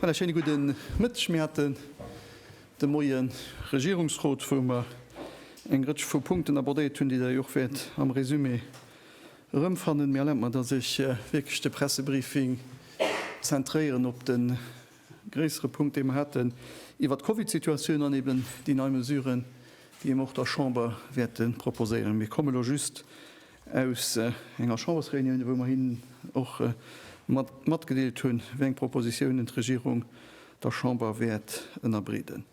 Voilà, schéine gudde Mëtteg. Mir haten de Moie Regierungsrot, wou mer eng Rëtsch vu Punkten abordéiert hunn, déi Der jo och wäert am Resumé Erëmfannen. Mee erlaabt mer, dass ech wierklech de Pressebriefing zentréieren op de gréissere Punkt, dee mer haten iwwert d'Covidsituatioun an eben déi nei Mesuren, déi mer och der Chamber wäerte proposéieren. Mir komme lo just aus enger Chambersréunion, wou mer hinnen och matgedeelt hunn, wéi eng Propositionen d'Regierung der Chamber wäert ënnerbreeden.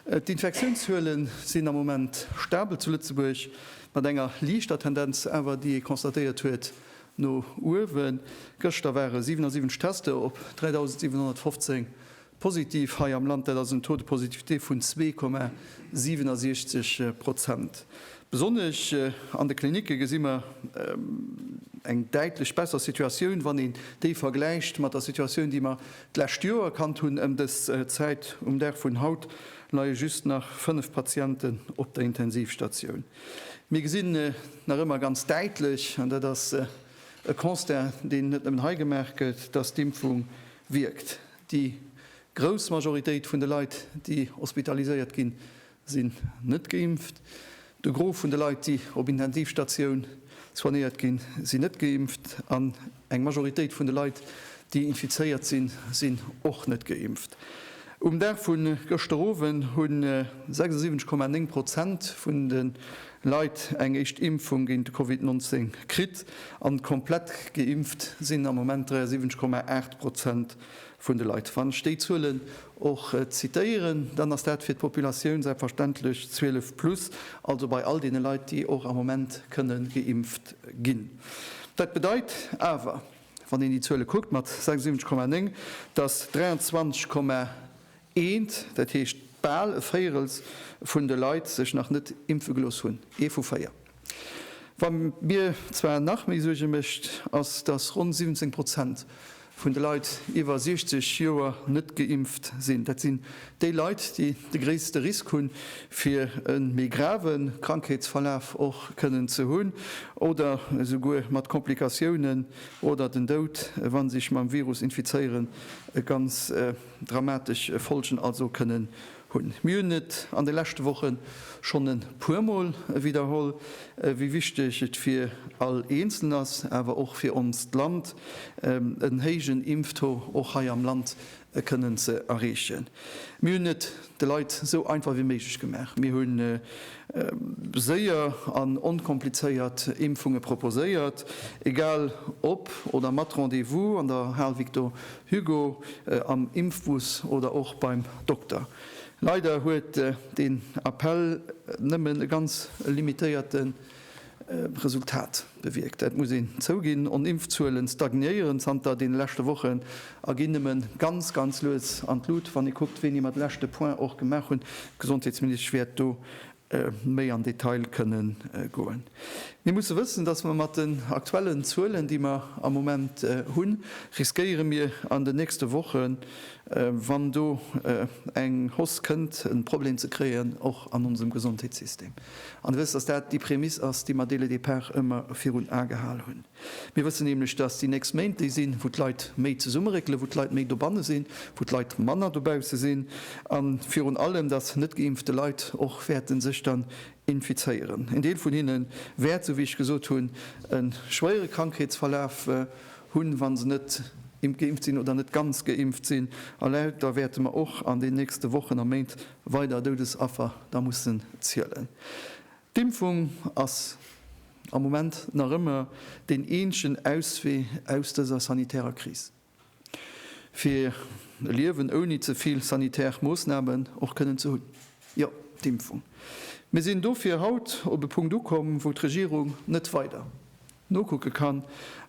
D'Infektiounszuele sinn am Moment stabel zu Lëtzebuerg, mat enger liichter Tendenz awer, déi ee constatéiert huet, no uewen. Gëschter ware 77 Tester op 3.715 positiv hei am Land. Dat ass en Taux de positivité vun 2,67 Prozent. Besonnesch an de Klinicke gesi mer eng däitlech besser Situatioun, wann een déi vergläicht mat der Situatioun, déi mer D'lescht Joer erkannt hunn. Ëm dës Zäit um Dag vun haut leie just nach 5 Patienten op der Intensivstatioun. Mir gesinn nach ëmmer ganz däitlech, an dat ass e Constat, deen net nëmmen hei gemaach gëtt, dass d'Impfung wierkt. Déi grouss Majoritéit vun de Leit, déi hospitaliséiert ginn, sinn net geimpft, de Gros vun de Leit, déi op Intensivstatioun soignéiert ginn, sinn net geimpft an eng Majoritéit vun de Leit, déi infizéiert sinn, sinn och net geimpft. Um Dag vu gëschter Owend hu 76,9 Prozent vun de Leit eng éischt Impfung géint de Covid 19 kritt an komplett geimpft sinn am Moment 73,8 Prozent vun de Leit. Wann ech déi Zuelen och zitéieren, dann ass dat fir d'Populatioun selbstverständlech 12 plus, also bei all deene Leit, déi och am Moment kënne geimpft ginn. Dat bedeit awer, wann een déi Zuele kuckt mat 76,9, dass 23,1 Eent, dat heescht bal e Véierels vun de Leit sech nach net impfe gelooss hunn. Ee vu véier. Wat mir zwar nach méi Suerge mécht, ass, datt ronn 17 Prozent vun de Leit iwwer 60 Joer net geimpft sinn. Dat sinn déi Leit, déi de gréisste Risk hunn, fir e méi grave Krankheetsverlaf och kënnen ze hunn oder souguer mat Komplikatiounen oder den Doud, wa sech mam Virus infizéieren, ganz dramatesch Folgen also kënnen hunn. Mir hunn et an de leschte Woche schonn e puermol widderholl, wéi wichteg et fir all Eenzelen ass, awer och fir onst Land, en héijen Impftaux och hei am Land kënnen ze erreechen. Mir hunn et de Leit sou einfach wéi méiglech gemaach. Mir hu séier an onkomplizéiert Impfunge proposéiert, egal ob oder mat Rendez-vous an der Hal Victor Hugo, Am Impfbus oder och beim Dokter? Leider huet deen Appell nëmmen e ganz limitéierte Resultat bewierkt. Dat muss een zouginn. On Impfzuelen stagnéieren zanter deene leschte Wochen a ginn nëmmen ganz, ganz lues an d'Lut, wann ee kuckt, wéini mer de leschte Point och gemaach hunn. D'Gesondheetsministesch wäert do méi an Detail kënne goen. Mir musse wëssen, dass mer mat den aktuellen Zuelen, déi mer am Moment hunn, riskéiere mir an den nächste Wochen, wann do eng Hausse kënnt, e Problem ze kréien, och an onsem Gesondheetssystem. An Dir wësst, dass dat déi Prämiss ass, déi mer dès le départ ëmmer virun Ae gehal hunn. Mir wëssen nämlech, dass déi nächst Méint déi sinn, wou d'Leit méi zesummeréckelen, wou d'Leit méi dobanne sinn, wou d'Leit manner dobausse sinn a virun allem, dass net geimpfte Leit och wäerte sech dann infizéieren. Een Deel vun hinne wäert, esou wéi ech gesot hunn, e schwéiere Krankheetsverlaf hunn, wa se net geimpft sinn oder net ganz geimpft sinn. A lauter wäerte mer och an den nächste Wochen a Méint weider Doudesaffer da mussen zielen. D'Impfung ass am Moment nach ëmmer deen eenzegen Auswee aus dëser sanitärer Kris. Fir e Liewen ouni ze vill sanitär Moossnamen och kënnen ze hunn, jo, d'Impfung. Mir sinn dofir haut op e Punkt ukomm, wou d'Regierung net weider Nokucke kann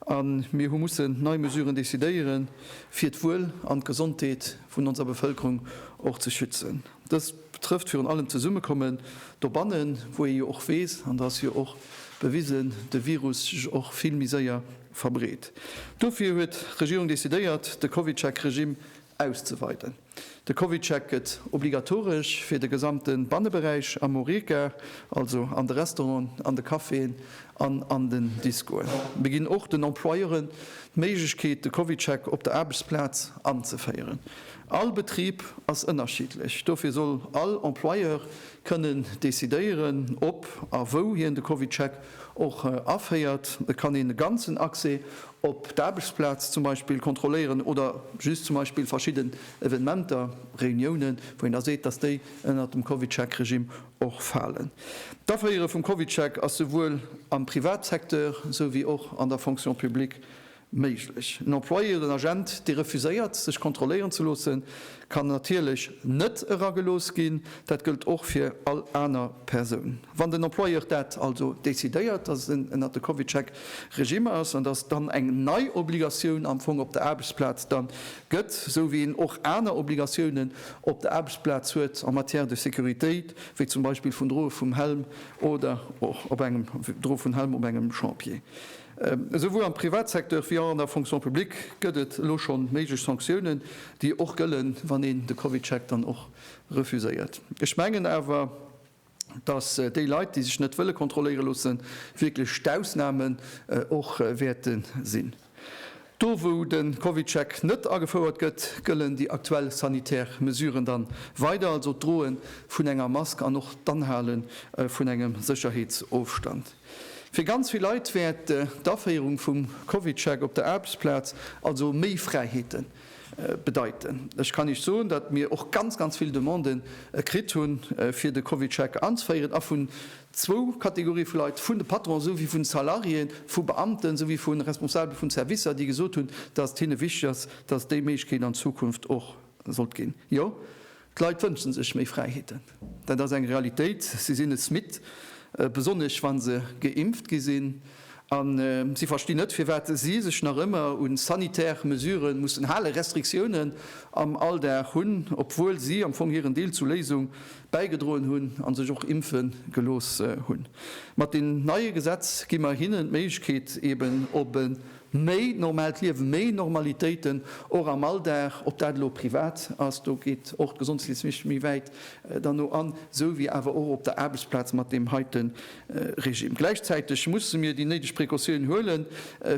a mir hu mussen nei Mesuren decidéieren, fir d'Wuel an d'Gesondheet vun onser Bevëlkerung och ze schützen. Dëst betrëfft virun allem d'Zesummekommen dobannen, wou ee jo och weess, an dat ass jo och bewisen, de Virus sech och vill méi séier verbreet. Dofir huet d'Regierung decidéiert, de CovidCheck-Regimm auszeweiden. De CovidCheck gëtt obligatoresch fir de gesamte Banneberäich am Horeca, also an de Restauranten, an de Caféen an an den Discoen. Mir ginn och den Employeuren d'Méiglechkeet, de CovidCheck op der Aarbechtsplaz anzeféieren. All Betrib ass ënnerschiddlech, dofir soll all Employeur kënnen decidéieren, ob a wou hien de CovidCheck och aféiert. Et kann een de ganzen Accès op d'Aarbechtsplaz zum Beispill kontrolléieren oder just zum Beispill verschidden Evenementer, Reuniounen, wou een da seet, dass déi ënnert dem CovidCheck-Regime och falen. D'Aféiere vum CovidCheck ass souwuel am Privatsecteur esou wéi och an der Fonction publique Méiglech. En Employé oder en Agent, dee refuséiert, sech kontrolléieren ze loossen, kann natierlech net eragelooss ginn. Dat gëllt och fir all aner Persoun. Wann den Employeur dat also decidéiert, dass en ënnert de CovidCheck Regime ass an dass dann eng nei Obligatioun am Fong op der Aarbechtsplaz da gëtt, esou wéi een och aner Obligatiounen op der Aarbechtsplaz huet en matière de sécurité, wéi zum Beispill vun Droe vum Helm oder och op engem Droe vun Helm op engem Chantier, Esouwuel am Privatsecteur wéi an der Fonction publique gëtt et elo scho méiglech Sanktiounen, déi och gëllen, wann een de CovidCheck dann och refuséiert. Ech mengen awer, datt déi Leit, déi sech net wëlle kontrolléiere loossen, wierklech d'Ausnamen och wäerte sinn. Do wou de CovidCheck net agefouert gëtt, gëllen déi aktuell sanitär Mesuren dann weider, also d'Droe vun enger Mask an och d'Anhale vun engem Sécherheetsofstand. Fir ganz vill Leit wäert d'Aféierung vum CovidCheck op der Aarbechtsplaz also méi Fräiheete bedeiten. Ech kann Iech soen, datt mir och ganz, ganz vill Demande kritt hu fir de CovidCheck anzeféieren a vun zwou Kategorie vu Leit, vun de Patronen esou wéi vun Salariéen, vu Beamten esou wéi vu Responsabele vun Servicer, déi gesot hunn, datt et hinne wichteg ass, datt déi Méiglechkeet an Zukunft och sollt ginn. Jo. D'Leit wënschen sech méi Fräiheeten. Dat ass eng Realitéit. Si sinn es midd, besonnesch wa se geimpft gi sinn. A si verstinn net, firwat si sech nach ëmmer u sanitär Mesuren mussen halen, Restriktiounen am Alldag hunn, obwuel si am Fong hiren Deel zur Léisung bäigedroen hunn a sech och impfe gelooss hunn. Mat deem neie Gesetz gi mer hinnen d'Méiglechkeet, eben op e Méi normaalt Liewen, méi Normalitéiten och am Alldag, ob dat elo privat ass, do geet och d'Gesondheetsministesch méi wäit derno an, esou wéi awer och op der Aarbechtsplaz mat deem heite Regime. Gläichzäiteg musse mir déi néideg Precautiounen huelen,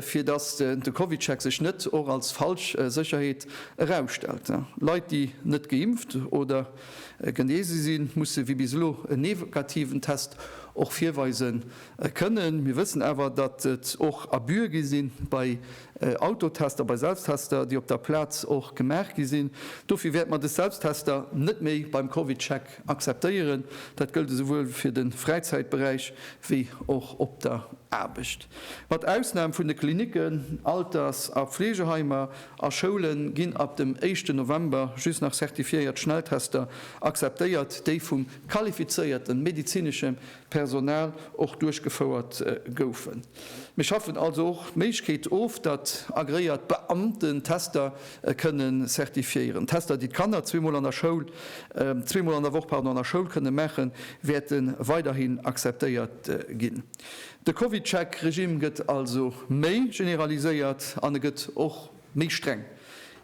fir datt de CovidCheck sech net och als falsch Sécherheet erausstellt. Leit, déi net geimpft oder genese sinn, musse wéi bis elo en negativen Test och virweisen. Kënnen. Mir wëssen awer, datt et och Abuse gi sinn bei Autotester, bei Selbsttester, déi op der Plaz och gemaach gi sinn. Dofir wäerte mer dës Selbsttester net méi beim CovidCheck akzeptéieren. Dat gëllt esouwuel fir de Fräizäitberäich wéi och op der Aarbecht. Mat Ausnam vun de Klinicken, Alters a Fleegeheimer a Schoule ginn ab dem éischten November just nach certifiéiert Schnelltester akzeptéiert, déi vum qualifizéierte medezinesche Personal och duerchgefouert goufen. Mir schaffen also och d'Méiglechkeet of, datt agreéiert Beamten Tester kënne certifiéieren. D'Tester, déi d'Kanner zwee Mol an der Schoul, zwee Mol an der Woch, pardon, an der Schoul kënne maachen, wäerte weiderhin akzeptéiert ginn. De CovidCheck-Regimm gëtt also méi generaliséiert an e gëtt och Méi streng,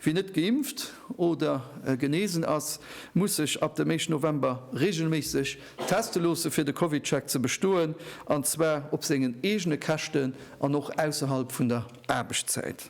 Wien net geimpft oder genesen ass, muss sech ab dem éischten November reegelméisseg teste loossen, fir de CovidCheck ze bestoen, an zwar op sengen eegene Käschten an och ausserhalb vun der Aarbechtszäit.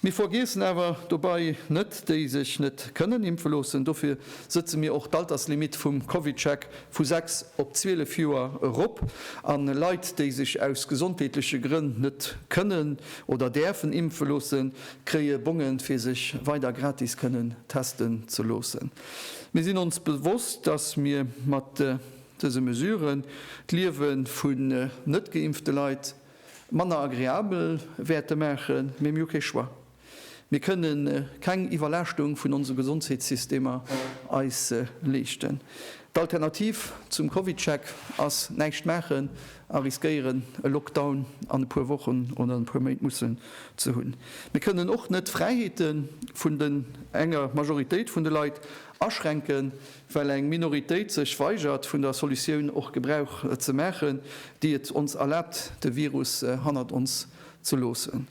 Mir vergiessen awer dobei net déi sech net kënnen impfe loossen. Dofir sëtze mir och d'Alterslimitt vum CovidCheck vu 6 op 12 Joer erop, a Leit, déi sech aus gesondheetleche Grënn net kënnen oder däerfen impfe loosse kréie Bonge fir sech weider gratis kënnen testen ze loosse. Mir sinn ons bewosst, datt mir mat dëse Mesuren d'Liewe vun net geimpfte Leit manner agreabel wäerte maachen, mee mir hu kee Choix. Mir kënne keng Iwwerlaaschtung vun onse Gesondheetssystemer eis leeschten. D'Alternativ zum CovidCheck ass näischt maachen a riskéieren e Lockdown an e puer Wochen oder an e puer Méint mussen ze hunn. Mir kënnen och net d'Fräiheete vun den enger Majoritéit vun de Leit aschränken, well eng Minoritéit sech weigert vun der Solutioun och Gebrauch ze maachen, déi et ons erlaabt de Virus hannert ons ze loossen.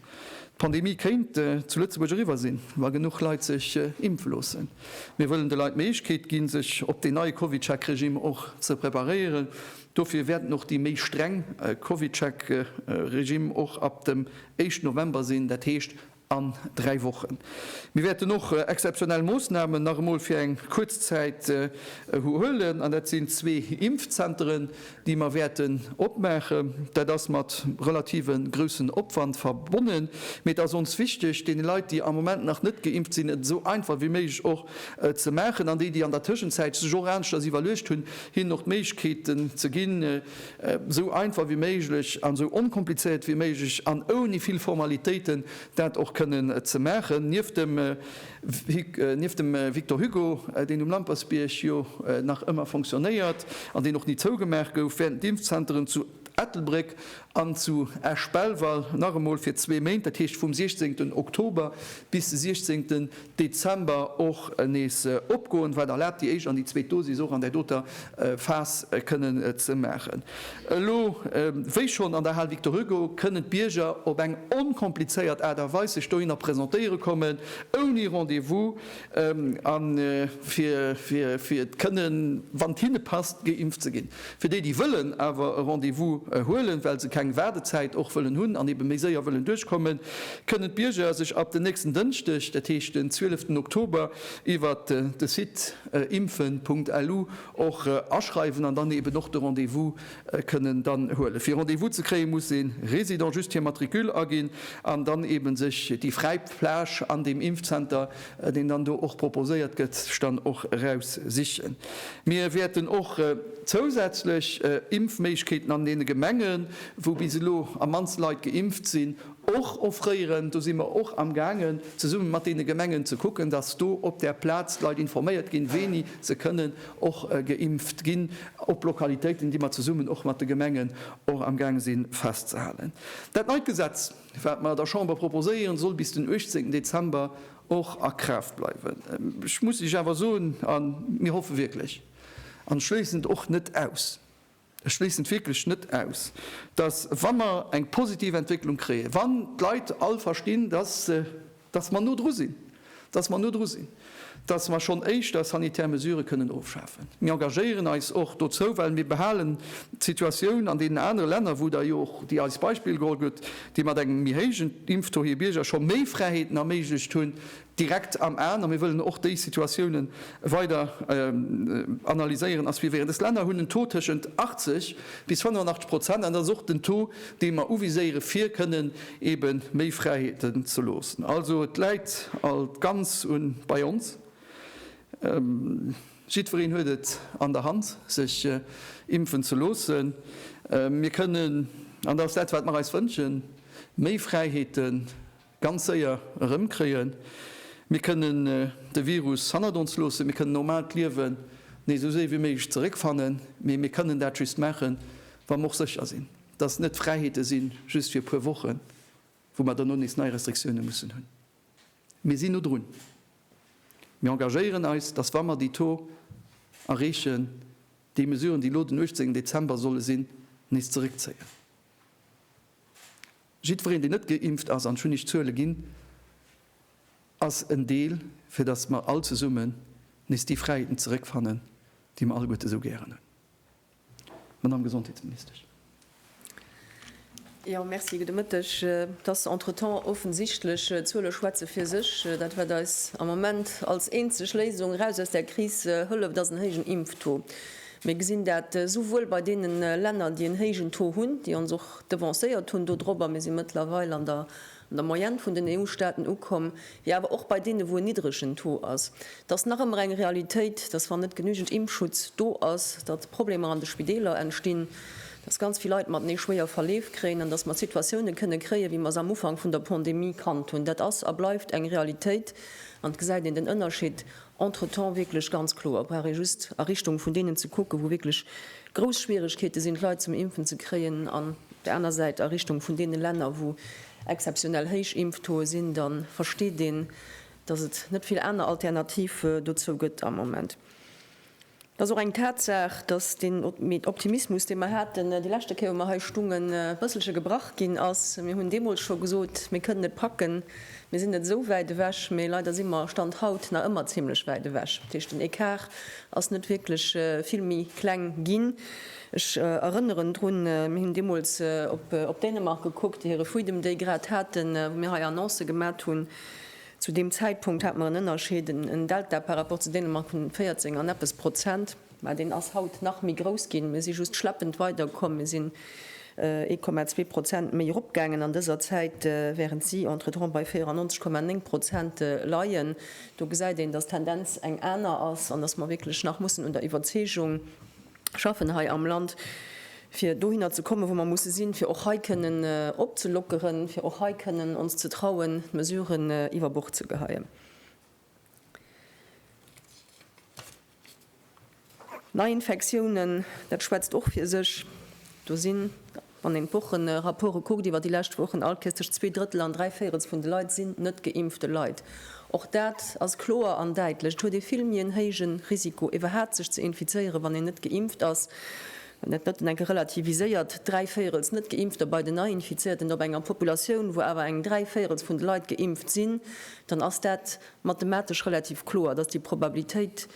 D'Pandemie kéint zu Lëtzebuerg eriwwer sinn, wa genuch Leit sech impfe loossen. Mir wëllen de Leit d'Méiglechkeet ginn, sech op deen neie Covidcheck-Regimm och ze preparéieren Dofir wäerten och déi méi streng Covidcheck-Regimm och ab dem éischten November sinn, dat heescht an dräi Wochen. Mir wäerten och exzeptionell Moossnamen nach emol fir eng kuerz Zäit huelen, an dat sinn zwee Impfzenteren, déi mer wäerten opmaachen. Dat ass mat relative groussen Opwand verbonnen, mee et ass ons wichteg, deene Leit, déi am Moment nach net geimpft sinn, et esou einfach wéi méiglech och ze maachen. An déi, déi an der Tëschenzäit sech och aneschters iwwerluecht hunn, hinnen och d'Méiglechkeeten ze ginn, esou einfach wéi méiglech an esou onkomplizéiert wéi méiglech an ouni vill Formalitéiten dat och kënnen ze maachen. Nieft dem Vic, nieft dem Victor Hugo, deen um Lampersbierg jo nach ëmmer fonctionnéiert an deen och ni zougemaach gouf, wäerten d'Impfzenteren zu Ettelbréck An zu Esch-Belval nach emol fir zwee Méint, dat heescht vum 16 Oktober bis 16 Dezember och nees opgoen, wat erlaabt déi éischt an déi zweet Dosis och an där doter Phas kënnen ze maachen. Elo wéi schonn an der Hal Victor Hugo kënnen d'Bierger op eng onkomplizéiert Aart a Weis sech dohinner presentéiere kommen, ouni Rendez-vous, a fir et kënnen, wann et hinne passt, geimpft ze ginn. Fir déi, déi wëllen awer e Rendez-vous huelen, well se keng Waardezäit och wëllen hunn an eebe méi séier wëllen duerchkommen, kënnen d'Bierger sech ab den nächsten Dënschdeg, dat heescht den 12 ten Oktober, iwwer de Site impfen.lu och aschreiwen an dann eeben och de Rendez-vous kënnen dann huelen. Fir Rendez-vous ze kréien, muss ee Résident just hir Matricule aginn an dann eben sech déi fräi Plage an deem Impfzenter, deen dann do och proposéiert gëtt, dann och eraus sichen. Mir wäerten och zousätzlech Impfméiglechkeeten an deene Gemengen, wou bis elo am mannste Leit geimpft sinn, Och offrëieren, do si mer och am gaangen zesumme mat deene Gemengen ze kucken, dass do op der Plaz d'Leit informéiert ginn, wéini se kënnen och geimpft ginn, op Lokalitéiten, déi mer zesummen och mat de Gemengen och am gaange si festzehalen. Dat neit Gesetz, wat mer der Chamber proposéieren, soll bis den 18 Dezember och a Kraaft bleiwen. Ech muss Iech awer soen, a mir hoffe wierklech an schléissen et och net aus, Ech schléissen et wierklech net aus, dass, wa mer eng positiv Entwécklung kréien, wann d'Leit all verstinn, dass, dass mer no dru sinn, dass mer no dru sinn, dass mer schonn éischter sanitär Mesurë kënnen ofschafen. Mir engagéieren eis och dozou, well mir behalen d'Situatioun an deenen anere Länner, wou Der jo och déi eis Beispill geholl hutt, déi mat engem méi héijen Impftaux hir Bierger scho méi Fräiheeten erméiglecht hunn, direkt am Aen, a mir wëllen och déi Situatioune weider analyséieren, ass wéi wär et. Dës Länner hunn en Taux tëschent 80 bis 85 Prozent, an dat ass och den Taux, dee mer uviséieren, fir kënnen ebe méi Fräiheeten ze loossen. Also et läit alt d'Ganz u bei ons. Jiddwereen huet et an der Hand, sech impfen ze loossen. Mir kënnen, an dat ass dat, wat mer eis wënschen, méi Fräiheete Ganz séier erëmkréien. Mir kënnen de Virus hannert ons loossen. Mir kënnen normaalt Liewen nees esou séi wéi méiglech zeréckfannen. Mee mir kënnen dat just maachen, wa mer och sécher sinn, dass et net Fräiheete si just fir e puer Wochen, wou mer dono nees nei Restriktioune mussen hunn. Mir sinn no drun. Mir engagéieren eis, dass, wa mer déi Taux erreechen, déi Mesuren, déi elo den 18 Dezember solle sinn, nees zeréckzéien. Jiddwereen, deen net geimpft ass, an ech hunn Iech d'Zuele ginn, ass en Deel, fir datt mer all zesummen nees déi Fräiheeten zeréckfannen, déi mer alleguerte esou gären hunn. Madame Gesondheetsministesch. Jo, merci. Gudde Mëtteg. Et ass entretemps offensichtlech, d'Zuele schwätze fir sech. Dat, wat eis am Moment als eenzeg Léisung eraus aus där Kris hëlleft, ass en héijen Impftaux. Mir gesinn dat souwuel bei deene Länner, déi en héijen Taux hunn, déi ons och devancéiert hunn dodrop, a mir si mëttlerweil an der an der Moyenne vun den EU-Staaten ukomm, wéi awer och bei deene wou en niddregen Taux ass. Et ass nach ëmmer eng Realitéit, datt wann net genügend Impfschutz do ass, datt Problemer an de Spideeler entstinn, datt ganz vill Leit matenee schwéier Verleef kréien an datt mer Situatioune kënne kréien, wéi mer se am Ufank vun der Pandemie kannt hunn. Dat ass a bleift eng Realitéit an et gesäit een den Ënnerscheed. Entretemps wierklech ganz kloer, brauch ee just a Richtung vun deenen ze kucken, wou wierklech grouss Schwierigkeete sinn, d'Leit zum Impfen ze kréien, an op där aner Säit a Richtung vun deene Länner, wou exzeptionell héich Impftauxë sinn, da versteet een, dass et net vill aner Alternative dozou gëtt am Moment. Et ass och eng Tatsaach, dass deen Optimismus, dee mer haten, déi leschte Kéier, wou mer hei stungen, e bësselche gebrach ginn ass. Mir hunn deemools scho gesot, Mir kënnen et packen, mir sinn net esou wäit ewech. Mee leider si mer, Stand haut, nach ëmmer zimmlech wäit ewech. Dat heescht, den Ecart ass net wierklech vill méi kleng ginn. Ech erënneren drun, mir hunn deemools op Dänemark gekuckt, déi hire Freedom Day grad haten, wou mir hei Annoncë gemat hunn, Zu deem Zäitpunkt hat mer en Ënnerscheed, en Delta par rapport zu Dänemark vun 14 an eppes Prozent, mä deen ass haut nach méi grouss ginn. Mir si just schleppend weidergekomm, mir sinn 1,2 Prozent méi eropgaangen an dëser Zäit, wärend si entretemps bei 94,9 Prozent leien. Do gesäit een, dass d'Tendenz eng aner ass an dass mer wierklech nach mussen un der Iwwerzeegung, schaffen hei am Land, fir dohinner ze kommen, wou mer musse sinn, fir och hei kënnen opzelockeren, fir och hei kënnen ons ze trauen, d'Mesuren iwwer Bord ze geheien. Neiinfektiounen, dat schwätzt och fir sech. Do sinn Wann een d'Wochenrapporte kuckt iwwer déi lescht Wochen, alt Kéiers tëscht zwee Drëttel an dräi Véirels vun de Leit sinn net geimpfte Leit. Och dat ass kloer an däitlech, et huet ee vill méi en héije Risiko iwwerhaapt sech ze infizéieren, wann een net geimpft ass. Wann dat net an enke relativiséiert, dräi Véirels net geimpfter bei den Neiinfizierten op enger Populatioun, wou awer eng dräi Véirels vun de Leit geimpft sinn, dann ass dat mathematesch relativ kloer, dass déi Probabilitéit,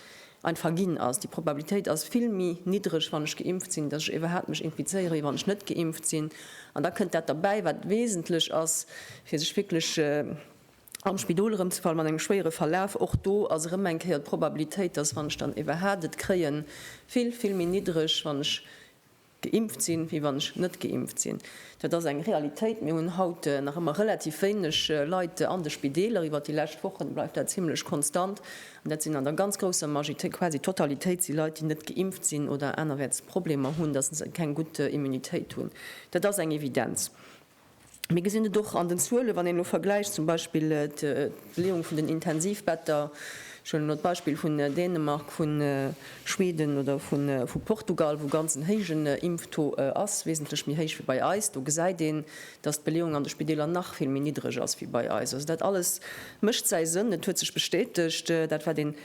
einfach ginn ass. Déi Probabilitéit ass vill méi niddreg, wann ech geimpft sinn, dass ech iwwerhaapt mech infizéiere wéi wann ech net geimpft sinn. An da kënnt dat derbäi, wat wesentlech ass, fir sech wierklech am Spidol erëmzefalle mat engem schwéiere Verlaf. Och do ass erëm eng Kéier d'Probabilitéit, dass, wann ech dann iwwerhaapt et kréien, vill, vill méi niddreg, wann ech. Geimpft sinn, wéi wann ech net geimpft sinn. Dat ass eng Realitéit. Mir hunn haut nach ëmmer relativ wéineg Leit an de Spideeler. Iwwert déi lescht Wochen bleift dat zimmlech konstant. An dat sinn an der ganz grousser Majoritéit, quasi d'Totalitéit, si Leit, déi net geimpft sinn oder anerwäerts Problemer hunn, dass se keng gutt Immunitéit hunn. Dat ass eng Evidenz. Mir gesinn et och an den Zuelen, wann een elo vergläicht zum Beispill d'Beleeung vun den Intensivbetter, ech huelen elo d'Beispill vun Dänemark, vu Schweden oder vu Portugal, wou ganz en héijen Impftaux ass, wesentlech méi héich wéi bei eis, do gesäit een, datt d'Beleeung an de Spideeler nach vill méi niddreg ass wéi bei eis. Also dat alles mécht säi Sënn, et huet sech bestätegt, dat wat een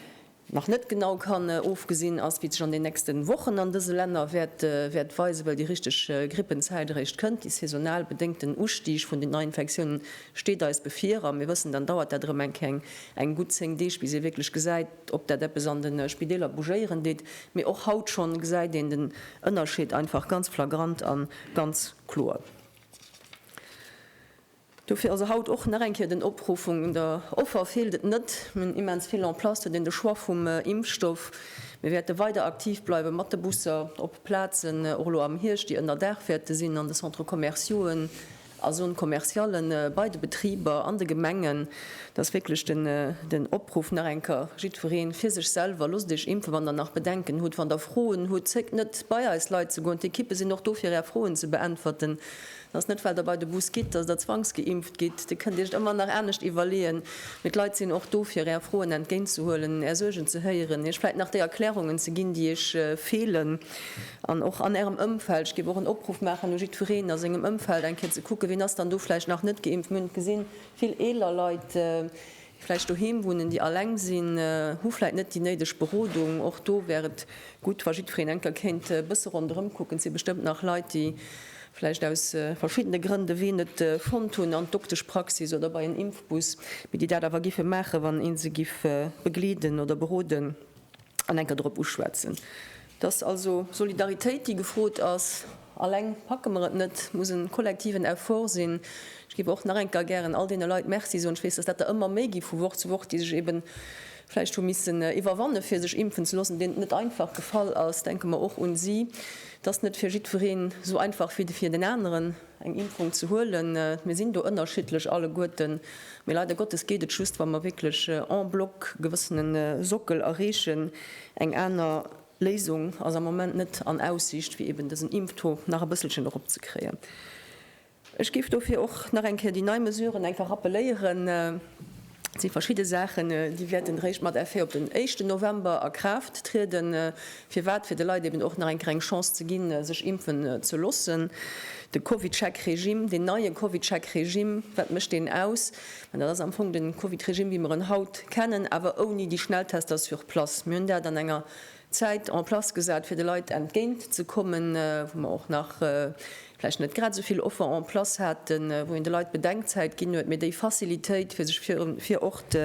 nach net genau kann ofgesinn ass, wéi et sech an den nächste Wochen an dëse Länner wäert weisen, well déi richteg Grippenzäit eréischt kënnt. Dee saisonal bedéngten Ustig vun den Neiinfektiounen steet eis bevir a mir wëssen, dann dauert dat erëm eng gutt 10 Deeg, bis ee wierklech gesäit, ob dat eppes an de Spideeler bougéieren deet. Mee och haut schonn gesäit een den Ënnerscheed einfach ganz flagrant a ganz kloer. Dofir also haut och nach eng Kéier den Opruff, un der Offer feelt et net, mir hunn immens vill en place, huet een de Choix vum Impfstoff. Mir wäerte weider aktiv bleiwe mat de Busser op Plazen, och elo am Hierscht, déi ënner Daach wäerte sinn, an de Centres commerciauen, a Zone commerciale bei de Betriber an de Gemengen. Dat ass wierklech den Opruff nach eng Kéier, jiddweree fir sech selwer, loosst Iech impfen, wann Der nach Bedenken hutt, wann Der Froen hutt, zéckt net bei eis Leit ze goen, d'Ekippe sinn och do fir Är Froen ze beäntwerten. Et ass net, well Der bei de Bus gitt, dass Der zwangsgeimpft gitt. Dir kënnt Iech et ëmmer nach anescht iwwerleeën. Mee d'Leit sinn och do, fir Är Froen entgéintzehuelen, Är Suergen ze héieren, Iech vläicht nach déi Erklärungen ze ginn, déi Iech feelen. An och an Ärem Ëmfeld. Ech géif och en Opruff maachen u jiddwereen a sengem Ëmfeld, eng Kéier ze kucken, wien ass dann do vläicht nach net geimpft. Mir hunn et gesinn, vill eeler Leit, vläicht doheem wunnen, déi alleng sinn, hu vläicht net déi néideg Berodung, och do wär et gutt, wa jiddwereen eng Kéier kéint e bësse ronderëm kucken. Et si bestëmmt nach Leit, déi vläicht aus verschiddene Grënn de Wee net fonnt hunn an d'Dokteschpraxis oder bei en Impfbus, mee déi dat awer géife maachen, wann ee se géif begleeden oder beroden. an enker drop uschwätzen. Et ass also Solidaritéit, déi gefrot ass. Alleng packe mer et net. Et muss e kollektiven Effort sinn. Ech géif och nach enker gären all deene Leit Merci soen. Ech weess, dass dat der ëmmer méi gi vu Woch zu Woch, déi sech eeben vläicht hu missen iwwerwanne fir sech impfen ze loossen, deenen et net einfach gefall ass. Denke mer och un si. Et ass net fir jiddwereen esou einfach wéi fir den aneren. eng Impfung ze huelen. Mir sinn do ënnerschiddlech alleguerten, mee leider Gottes geet et just, wa mer wierklech en bloc e gewëssene Sockel erreechen. Eng aner Léisung ass am Moment net an Aussicht, fir eben dësen Impftaux nach e bësselchen eropzekréien. Ech géif dofir och nach eng Kéier déi nei Mesuren einfach rappeléieren. Et si verschidde Saachen, déi wäerten eréischt mat Effet op den éischten November a Kraaft trieden. Firwat? Fir de Leit eben och nach eng Kéier eng Chance ze ginn, sech impfen ze loossen. De CovidCheck-Regime, deen neie CovidCheck-Regime, wat mécht deen aus? Mä dat ass am Fong de CovidRegime, wéi mer en haut kennen, awer ouni déi Schnelltester sur place. Mir hunn dat an enger Zäit en place gesat, fir de Leit entgéint ze kommen, wou mer och nach vläicht net grad esou vill Offer en place haten, wou een de Leit Bedenkzäit ginn huet, mee déi Facilitéit, fir sech fir Ort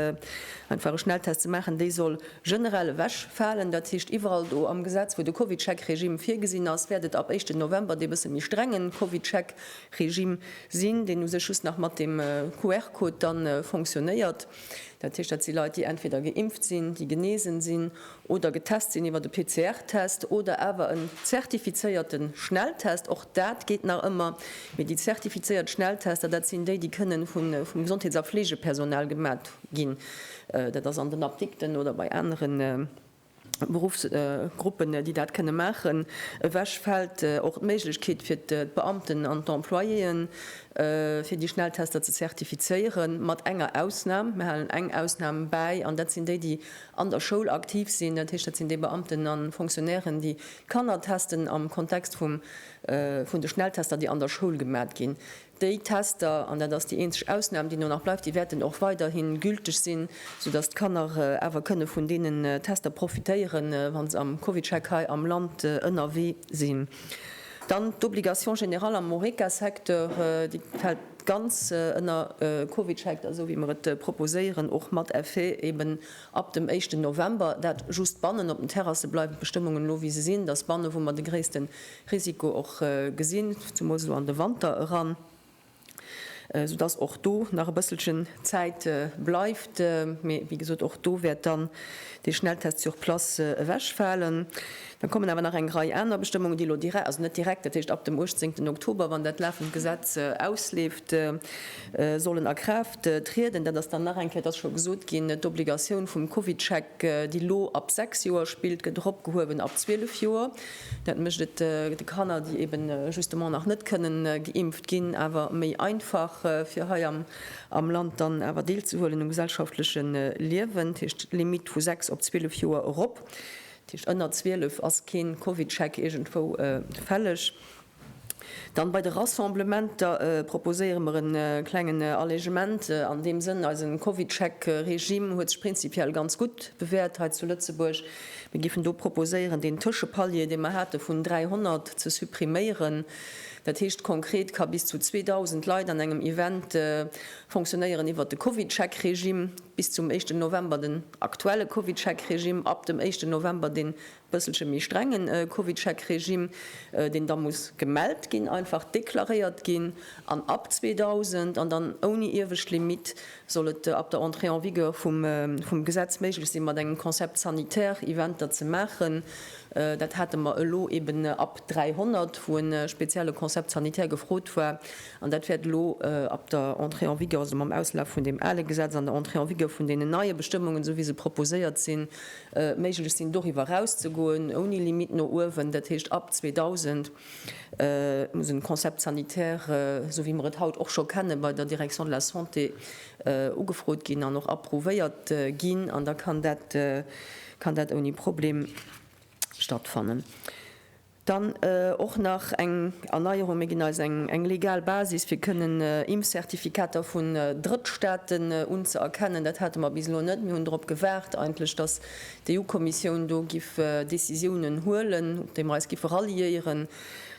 einfach e Schnelltest ze maachen, déi soll generell ewechfalen. Dat heescht, iwwerall do am Gesetz, wou de Covidcheck-Regime virgesinn ass, wäert et ab éischten November dee bësse méi strenge Covidcheck-Regime sinn, deen u sech just nach mat dem QR-Code dann fonctionnéiert. Dat heescht, dat si Leit, déi entweder geimpft sinn, déi genesen sinn oder getest sinn iwwer e PCR-Test oder awer en zertifizéierte Schnelltest, och dat geet nach ëmmer, mee déi zertifizéiert Schnelltester, dat sinn déi, déi kënnen vum Gesondheets a Fleegepersonal gemat ginn, dat ass an den Apdikten oder bei anere Beruffsgruppen, déi dat kënne maachen. Ewech fält och d'Méiglechkeet fir d'Beamten an d'Employéeën, fir déi Schnelltester ze zertifizéieren, mat enger Ausnam, mir halen eng Ausnam bäi, an dat sinn déi, déi an der Schoul aktiv sinn, dat heescht dat sinn déi Beamten a Fonctionnairen, déi d'Kanner testen am Kontext vum vun de Schnelltester, déi an der Schoul gemat ginn. Déi Tester, an dat ass déi eenzeg Ausnam, déi elo nach bleift, déi wäerten och weiderhi gülteg sinn, soudatt d'Kanner awer kënne vun deenen Tester profitéieren, wa se am CovidCheck hei am Land ënnerwee sinn. Dann d'Obligation générale am Horeca-Secteur, déi fält. D'ganz ënner Covid scheikt da, esou wéi mer et proposéieren, och mat Effet eben ab dem éischten November. Dat just bannen. Op den Terrasse bleiwen d'Bestëmmungen elo wéi se sinn. Et ass bannen, wou mer de gréissten Risiko och gesinn, zemools elo an de Wanter eran, esou dass och do nach e bësselchen Zäit bleift. Mee wéi gesot, och do wäert dann dee Schnelltest sur place ewechfalen. Da kommen awer nach eng Rei aner Bestëmmungen, déi elo direkt, also net direkt, dat heescht ab dem 18. Oktober, wann dat lafend Gesetz ausleeft, sollen a Kraaft trieden. Dat ass dann nach eng Kéier, et ass scho gesot ginn, d'Obligatioun vum Covidscheck, déi elo ab sechs Joer spillt, gëtt eropgehuewen ab zwielef Joer. Dat mécht et de Kanner, déi eben justement nach net kënnen geimpft ginn, awer méi einfach, fir hei am Land dann awer deelzehuelen um gesellschaftleche Liewen. Dat heescht d'Limitt vu sechs op zwielef Joer erop. Dat heescht, ënner 12 ass kee Covidcheck iergendwou fälleg. Dann, bei de Rassemblementer proposéiere mer e klengen Allégeement an deem Sënn. Eise Covidcheck-Regime huet sech prinzipiell ganz gutt bewäert hei zu Lëtzebuerg. Mir géifen do proposéieren, deen Tëschepalier, dee mer hate vun 300, ze suppriméieren. Dat heescht konkret, ka bis zu 2.000 Leit an engem Event fonctionnéieren iwwert de Covidcheck-Regime bis zum éischten November. aktuelle CovidCheck-Regime ab dem éischten November dee bësselche méi strenge CovidCheck-Regime, deen da muss gemellt ginn, einfach deklaréiert ginn, an ab 2000, an dann ouni iewescht Limitt, soll et ab der Entrée en vigueur vum Gesetz méiglech sinn, mat engem Concept sanitaire Eventer ze maachen. Dat hate mer elo eeben ab 300, wou e spezielle Concept sanitaire gefrot war. An dat wäert elo ab der Entrée en vigueur, also mam Auslaf vun deem ale Gesetz an der Entrée en vigueur vun deenen neie Bestëmmungen, esou wéi se proposéiert sinn, méiglech sinn, doriwwer erauszegoen, ouni Limitt no uewen. Dat heescht, ab 2000 muss e Concept sanitaire, esou wéi mer et haut och scho kennen, bei der Direction de la santé ugefrot ginn an och approuvéiert ginn. An da kann dat ouni Problem stattfannen. Dann och nach eng Erneierung, Mir ginn eis eng legal Basis, fir kënnen Impfzertifikater vun Drëttstaaten unzëerkennen. Dat hate mer bis elo net. Mir hunn drop gewaart eigentlech, dass d'EU-Kommissioun do giff Decisiounen huelen, op déi mer eis giffe ralliéieren.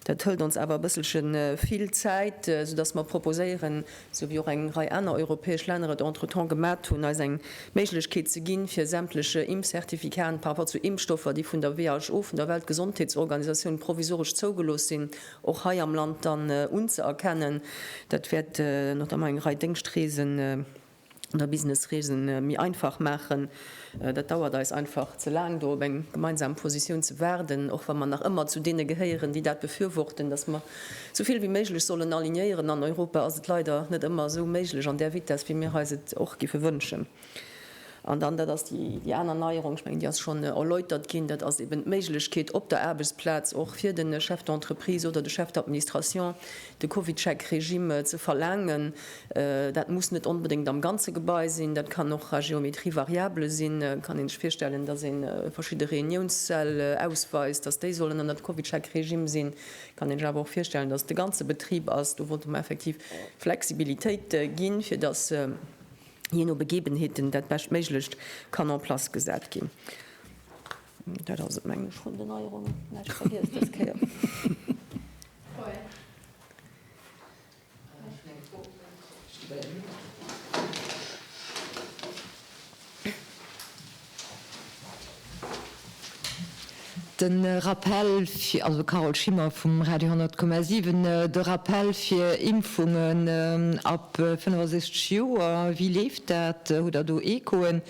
Dat hëlt ons awer e bësselche vill Zäit, soudass mer proposéieren, sou wéi och eng Rei aner europäesch Länner et entretemps gemat hunn, eis eng Méiglechkeet ze ginn, fir sämtleche Impfcertificaten par rapport zu Impfstoffer, déi vun der WHO, vun der Weltgesondheetsorganisatioun, provisoresch zougelooss sinn, och hei am Land dann unzëerkennen. Dat wäert notamment eng Rei Déngschtreesen. der Businessreesen méi einfach maachen. Dat dauert eis einfach ze laang, do op eng gemeinsam Positioun ze waarden, och wa mer nach ëmmer zu deene gehéieren, déi dat befürworten, dass mer esou vill wéi méiglech sollen alignéieren. An Europa ass et leider net ëmmer esou méiglech an där Vitess, wéi mir eis et och géife wënschen. An dann, dat ass déi aner Neierung, ech mengen, déi ass schonn erläutert ginn, dat ass eben d'Méiglechkeet op der Aarbechtsplaz och fir de Chef d'entreprise oder de Chef d'administration, De CovidCheck-Regime ze verlaangen, dat muss net onbedéngt am ganze Gebai sinn, dat kann och à géométrie variable sinn. Et kann ee sech virstellen, datt ee verschidde Reuniounssäll ausweist, datt déi sollen ënnert CovidCheck-Regime sinn. Et kann ee sech awer och virstellen, datt et de ganze Betrib ass. Do wollte mer effektiv Flexibilitéit ginn, fir datt jee no Begebenheeten dat beschtméiglecht kann en place gesat ginn. Dat ass et, meng ech, vun den Neierungen. Näischt vergiess dës Kéier. Den Rappell fir, also Carole Schimmer vum Radio 100,7, de Rappell fir Impfungen ab 65 Joer, wéi leeft dat? Hutt Der do Echoen?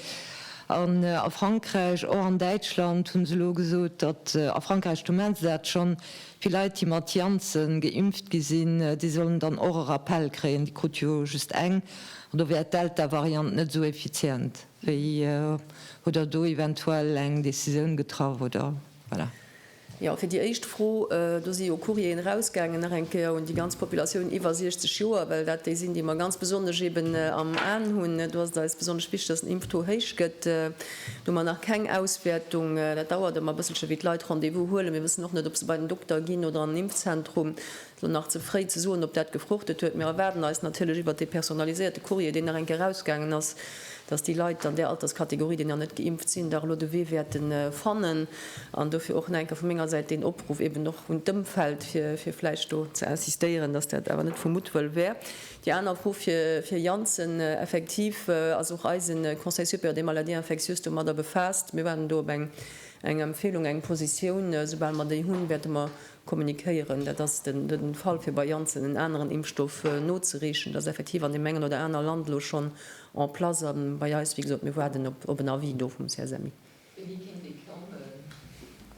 An a Frankräich, och an Däitschland, hu se elo gesot, datt, a Frankräich, do maache se dat schonn, Fir Leit, déi mat Janssen geimpft gi sinn, déi sollen dann och e Rappell kréien. Déi krut jo just eng. An do wär d'Delta-Variant net esou effizient wéi. Hutt Der do eventuell eng Decisioun getraff, oder? Voilà. Jo, fir déi éischt Fro, do si jo Courrieren erausgaangen nach eng Kéier un déi ganz Populatioun iwwer 60 Joer, well dat déi sinn, déi mer ganz besonnesch eeben am Aen hunn. Do ass et eis besonnesch wichteg, dass den Impftaux héich gëtt. Do hu mer nach keng Auswäertung. Dat dauert ëmmer e bësselche wéi d'Leit Rendez-vous huelen. Mir wëssen och net, ob se bei den Dokter ginn oder an den Impfzentrum. Et ass nach ze fréi ze soen, ob dat gefruchtet huet. Mir erwaarden eis natierlech iwwert dee personaliséierte Courrier, deen nach eng Kéier erausgaangen ass, dass déi Leit an där Alterskategorie, déi nach net geimpft sinn, dach elo de Wee wäerte fannen. An dofir och nach eng Kéier vu menger Säit deen Opruff eeben och un d'Ëmfeld, fir vläicht do ze insistéieren, dass dat awer net vu Muttwëll wär. Déi aner Fro fir Janssen, Effektiv ass och eise Conseil supérieur des maladies infectieuses domadder befaasst. Mir waarden do op eng Empfehlung, eng Positioun. Soubal mer déi hunn, wäerte mer kommunikéieren. Dat ass de Fall fir bei Janssen en aneren Impfstoff nozereechen. Dat ass effektiv an deem engen oder aner Land elo schonn en place. A bei eis, wéi gesot, mir waarden op en Avis do vum CSMI. Wéini kéint dee kommen?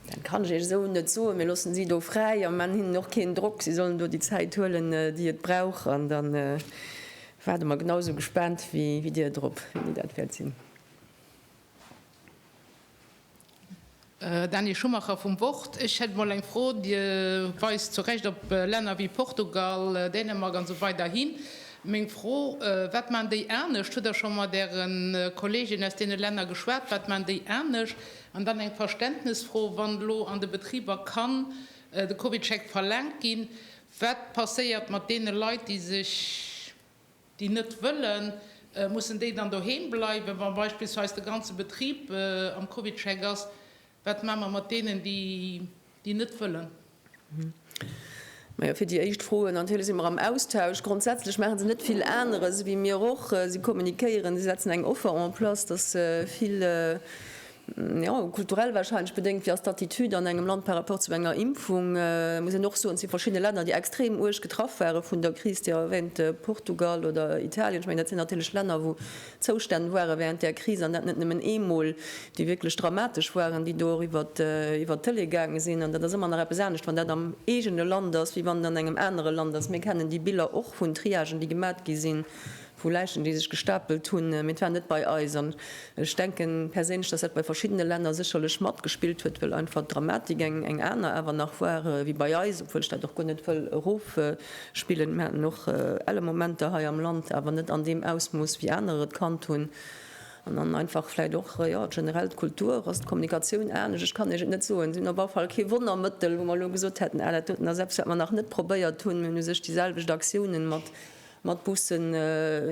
Dat kann ech Iech esou net soen. Mir loossen si do fräi a maachen hinnen och keen Drock. Si sollen do déi Zäit huelen, déi et brauch. An da waarde mer genau esou gespaant wéi Dir drop, wéini dat wäert sinn. Daniel Schumacher vum Wort, Ech hätt emol eng Fro. Dir weist zu Recht op Länner wéi Portugal, Dänemark an esou weider hin. Meng Fro, Wat man déi anescht? Hutt Der scho mat Äre Kolleegen aus deene Länner geschwat? Wat man déi anescht? An dann eng Verständnesfro, Wann elo an de Betriber kann de Covidcheck verlaangt ginn, wat passéiert mat deene Leit, déi sech, déi net wëllen? Mussen déi dann doheem bleiwen, wa beispillsweis de ganze Betrib am Covidcheck ass? Wat maache mer mat deenen, déi net wëllen? Majo, fir déi éischt Fro, natierlech si mer am Austausch. Grondsätzlech maache se net vill aneres ewéi mir och. Si kommunikéieren, si setzen eng Offer en place, dass se vill, jo, kulturell warscheinlech bedéngt, wéi ass d'Attitude an engem Land par rapport zu enger Impfung? Muss een och soen, et si verschidde Länner, déi extrem uerg getraff ware vun der Kris, Dir erwähnt Portugal oder Italien. Ech mengen, dat sinn natierlech Länner, wou Zoustänn ware während där Kris, an dat net nëmmen eemol, déi wierklech dramatesch waren, déi do och iwwer d'Tëlee gaange sinn. An dat ass ëmmer nach eppes anescht, wann dat am eegene Land ass, wéi wann et an engem anere Land ass. Mir kennen déi Biller och vun Triagen, déi gemat gi sinn, vu Läichen, déi sech gestapelt hunn. Mee et war net bei eis. An ech denken perséinlech, dass dat bei verschiddene Länner sécherlech matgespillt huet, well einfach d'Dramatik eng aner awer nach war wéi bei eis, obwuel ech dat och guer net wëll erof Spillen. Mir haten och elle Momenter hei am Land, awer net an deem Ausmooss, wéi anerer et kannt hunn. An dann einfach vläicht och, jo, generell d'Kultur ass, d'Kommunikatioun anescht. Ech kann Iech et net soen. Si hunn op alle Fall kee Wonnermëttel, wou mer elo gesot hätten, ah, dat doten ass eppes, wat mer nach net probéiert hunn. Mir hunn u sech déi selwecht Aktiounen mat Bussen,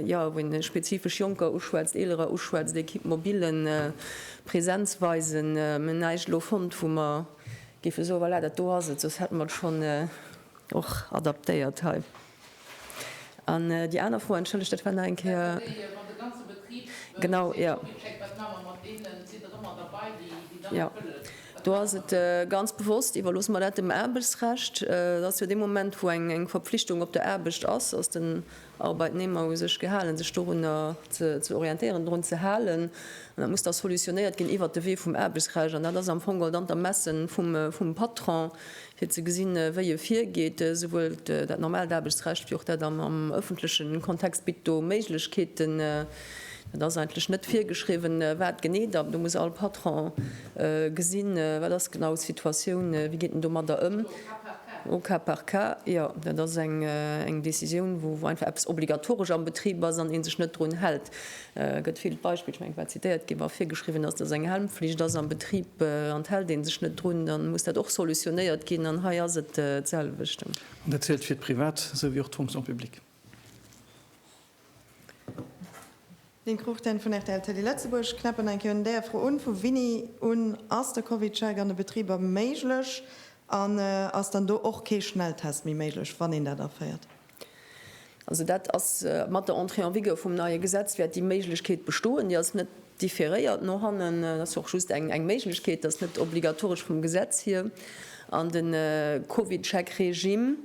jo, wou ee spezifesch Jonker uschwätzt, Eelerer uschwätzt, Equipe mobile, Präsenz weisen. Mir hunn näischt elo fonnt, wou mer géife soen, voilà, dat do ass et, soss hätte mer et schonn. Och adaptéiert hei. An déi aner Fro, entschëllegt, dat war nach eng Kéier. Genau, jo. Jo, do ass et ganz bewosst, iwwerloosse mer dat dem Aarbechtsrecht. Dat ass jo dee Moment, wou eng Verpflichtung op der Aarbecht ass, ass den Arbeitnehmer hu sech gehalen, sech dorunner ze orientéieren, drun ze halen. An dat muss da solutionéiert ginn iwwert de Wee vum Aarbechtsrecht. An dat ass am Fong geholl dann d'Ermessen vum Patron, fir ze gesinn, wéi e virgeet. Souwuel dat normaalt Aarbechtsrecht wéi och dat am ëffentleche Kontext bitt do Méiglechkeeten. Et ass eigentlech net virgeschriwwen, wat genee da. Do muss all Patron gesinn, wat ass genau d'Situatioun, wéi geet en domadder ëm. Au cas par cas, jo. Dat ass eng Décisioun, wou einfach eppes obligatoresch am Betrib ass an ee sech net drun hält. Et gëtt vill d'Beispill, ech mengen, wat zitéiert gi war, virgeschriwwen ass, dass eng Helmpflicht ass am Betrib an d'hält ee sech net drun, da muss dat och solutionéiert ginn. An hei ass et d'selwecht. An dat zielt fir d'Privat esou wéi och d'Fonction publique. Lynn Cruchten vun rtl Télé Lëtzebuerg, knäppen eng Kéier un där Fro un, Vu winni un ass de Covidcheck an de Betriber méiglech? An ass dann do och kee Schnelltest méi méiglech, wann een dat aféiert? Also dat ass, mat der Entrée en vigueur vum neie Gesetz wäert déi Méiglechkeet bestoen. Déi ass net différéiert no hannen, dat ass och just eng Méiglechkeet, dat ass net obligatoresch vum Gesetz hier. An de Covidcheck-Regime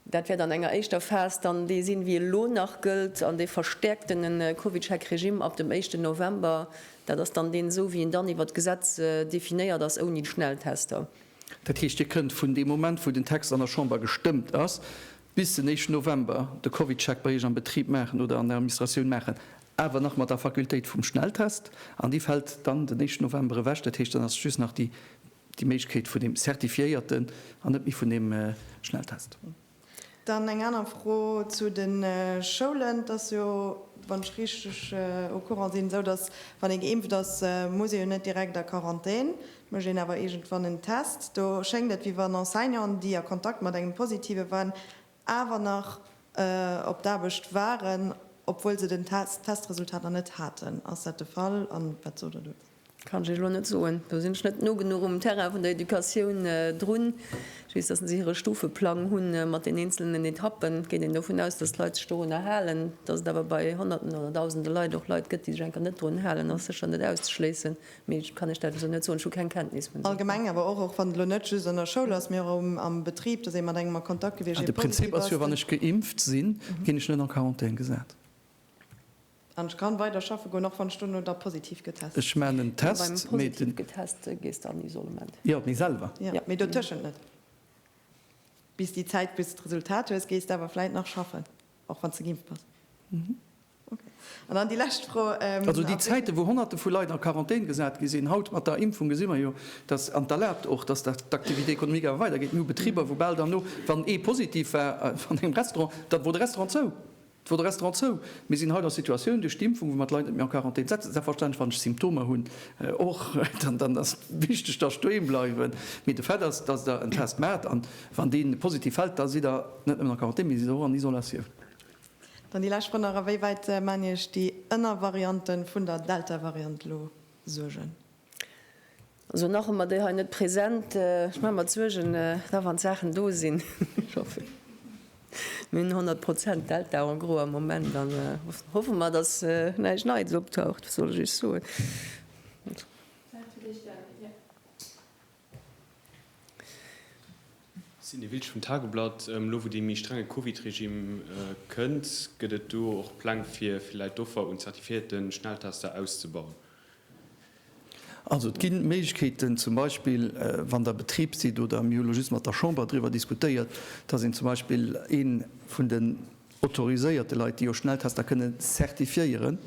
Dat wäert an enger éischter Phas dann dee sinn, wéi e lo nach gëllt, an dee verstäerkten Covid-Check-Regime ab dem éischten November. Dat ass dann deen esou, wéi en dann iwwert d'Gesetz definéiert ass, ouni d'Schnelltester. Dat heescht, Dir kënnt vun deem Moment, wou den Text an der Chamber gestëmmt ass, bis den éischten November de Covid-Check bei Iech am Betrib maachen oder an der Administratioun maachen, awer nach mat der Fakultéit vum Schnelltest. An dee fält dann den éischten November ewech. Dat heescht, dann ass just nach déi. Déi Méiglechkeet vun deem certifiéierten an net méi vun deem Schnelltest. Dann eng aner Fro zu de Schoulen. Et ass jo, wann ech richteg au courant sinn, esou, datt, wann ee geimpft ass, muss ee jo net direkt a Quarantän. Et mécht een awer iergendwann en Test. Do schéngt et, wéi wann Enseignanten, déi a Kontakt mat engem Positive waren, awer nach op d'Aarbecht waren, obwuel se den Testresultat nach net haten. Ass dat de Fall an wat sot der dozou? Kann ech Iech elo net soen. Do sinn ech net no genuch um Terrain vun der Educatioun drun. Ech weess, datt se hire Stufeplang hu mat den eenzelnen Etappen. Et geet een dovun aus, datt d'Leit sech dorunner halen. Datt et awer bei Honnerten oder Dausende Leit och Leit gëtt, déi sech enker net drun halen, ass sécher net auszeschléissen. Mee ech kann lech dat esou net soen, ech hu keng Kenntnis vun esou Fäll. Allgemeng awer och, och wann et elo net just an der Schoul ass, mee och am Betrib, dass ee mat engem a Kontakt gewiescht, ee positiv ass, den. An de Prinzip ass jo, wann ech geimpft sinn, ginn ech net en Quarantän gesat. An ech kann weider schaffe goen, och wann ech duerno da positiv getest sinn. Ech maachen en Test. Beim positiv getest gees de an Isolement. Jo, mee selwer. Jo, mee dotëschent net. Bis déi Zäit, bis de d'Resultat hues, gees de awer vläit nach schaffen. Och wann se geimpft bass. Ok. An dann déi lescht Fro. Also déi Zäiten, wou Honnerte vu Leit an Quarantän gesat gi sinn, haut mat der Impfung gesi mer jo, dass, an et erlaabt och, dass d'Activité économique awer weider geet. Mir hu Betriber, wou bal derno, wann ee positiv war an engem Restaurant, da wor de Restaurant zou. Da wor de Restaurant zou. Mir sinn haut a Situatioun, duerch d'Impfung, wou mer d'Leit net méi an Quarantän setzen. Selbstverständlech, wann ech Symptomer hunn, och, dann ass et wichteg, dass ech doheem bleiwen. Mee de Fait ass, dass Der en Test maacht. Wann dee positiv fält, da sidd Der net nëmmen a Quarantän, mee sidd och an Isolatioun. Dann déi lescht Fro nach, A wéi wäit maachen Iech déi Ënnervariante vun der Deltavariant elo Suergen? Also nach hu mer déi hei net present. Ech maache mer d'Suergen da wann d'Saachen do sinn. Ech hoffen, mir hunn 100 Prozent Delta en gros am Moment. Dann hoffe mer, datt näischt Neits optaucht. Wat soll ech Iech soen? Sidney Wiltsch vum Tageblatt, Elo wou dee méi strenge Covid-Regime kënnt, gëtt et do och Pläng fir villäit d'Offer un zertifiéierte Schnelltester auszebauen? Also et gi Méiglechkeeten, zum Beispill wann Der Betrib sidd, oder mir hu elo just mat der Chamber driwwer diskutéiert, datt een zum Beispill ee vun den autoriséierte Leit, déi jo Schnelltester kënne zertifiéieren,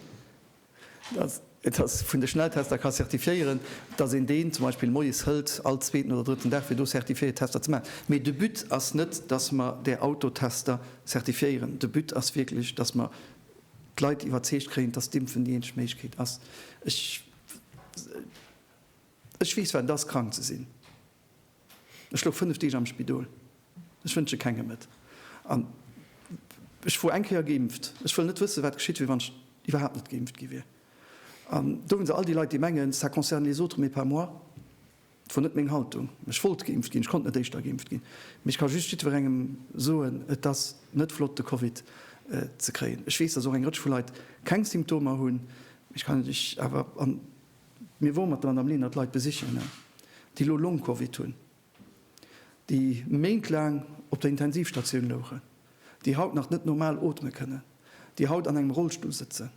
Et ass vun de Schnelltester ka certifiéieren, dass een deen zum Beispill moies hëlt, all zweeten oder drëtten Dag, fir do certifiéiert Tester ze maachen. Mee de But ass net, dass mer där Autotester certifiéieren. De But ass wierklech, dass mer d'Leit iwwerzeegt kréien, dass d'Impfen déi eenzeg Méiglechkeet ass. Ech weess, wat et ass, krank ze sinn. Ech louch 5 Deeg am Spidol. Ech wënsche kengem et. An ech wor eng Kéier geimpft. Ech wëll net wëssen, wat geschitt wier, wann ech iwwerhaapt net geimpft gi wier. An do hunn se all déi Leit, déi mengen, ça concerne les autres, mais pas moi. Et wor net meng Haltung. Ech wollt geimpft ginn. Ech konnt net éischter geimpft ginn. Mee ech ka just jiddwerengem soen, et ass net flott, de Covid ze kréien. Ech weess, dass och eng Rëtsch vu Leit keng Symptomer hunn. Ech kann lech awer an Mir wore mat der Madame Lenert Leit besichen, déi elo Long-Covid hunn, déi méintlaang op der Intensivstatioun louchen, déi haut nach net normal oteme kënnen, déi haut an engem Rollstull sëtzen.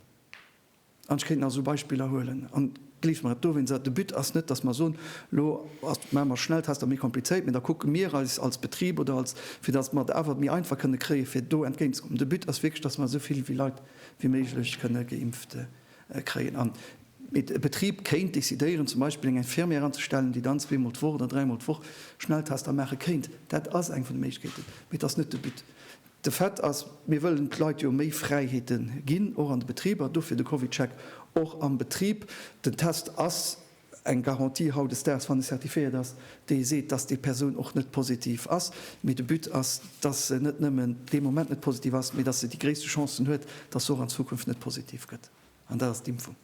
An ech kéint nach esou Beispiller huelen. An gleeft mer, et doof een se. De But ass net, dass mer soen, elo maache mer Schnelltester méi komplizéit, mä da kucke mir eis als Betrib oder als, fir dass mer et awer méi einfach kënne kréien, fir do entgéint ze kommen. De But ass wierklech, dass mer esou vill Leit wéi méiglech kënne geimpft. kréien an et e Betrib kéint decidéieren, zum Beispill eng Infirmière anzestellen, déi dann zweemol d'Woch oder dräimol d'Woch Schnelltester maache kéint. Dat ass eng vun de Méiglechkeeten, mee et ass net de But. De Fait ass, mir wëllen d'Leit jo méi Fräiheete ginn, och an de Betriber, dofir de CovidCheck och am Betrib. Den Test ass Eng Garantie hautdesdaags, wann e certifiéiert ass, déi seet, dass déi Persoun och net positiv ass, mee de But ass, dass se net nëmmen dee Moment net positiv ass, mee dass se déi gréisste Chancen huet, dass se och an Zukunft net positiv gëtt. An dat ass d'Impfung.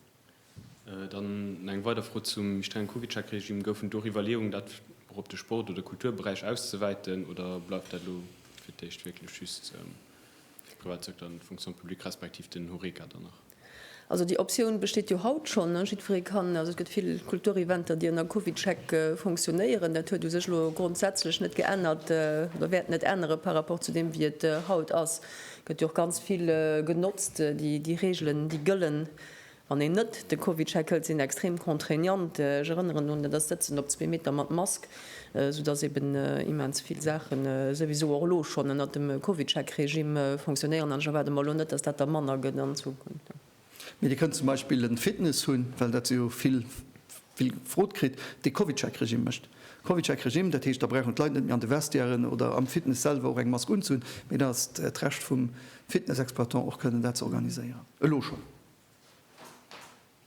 Dann eng weider Fro zum méi strengen Covid-Check-Regime. Goufen do Iwwerleeungen, dat och op de Sport oder Kulturberäich auszewäiten, oder bleift dat elo fir d'éischt wierklech just fir de Privatsecteur an d'Fonction publique respektiv den Horeca dann nach? Also déi Optioun besteet jo haut schonn. Jiddweree kann, also et gëtt vill Kultureventer, déi ënner CovidCheck funktionéieren. Dat huet u sech elo grondsätzlech net geännert oder wäert net ännere par rapport zu deem, wéi et haut ass. Et gëtt jo och ganz vill genotzt. Déi Reegelen, déi gëllen, wann een net de CovidCheck hëlt, sinn extrem contraignant. Ech erënneren un dat Sëtzen op zwee Meter mat Mask. sou dass eben immens vill Saachen souwisou och elo schonn ënnert dem CovidCheck-Regimm fonctionnéieren, an ech erwaarde mer elo net, dass dat da manner gëtt an Zukunft. Mee Dir kënnt zum Beispill en Fitness hunn, well dat si jo vill vill gefrot kritt, dee CovidCheck-Regimm mécht. CovidCheck-Regimm, dat heescht, da brauchen d'Leit net méi an de Vestiairen oder am Fitness selwer och eng Mask unzehunn, mee da ass et d'Recht vum Fitness-Exploitant och kënnen dat ze organiséieren, elo schonn.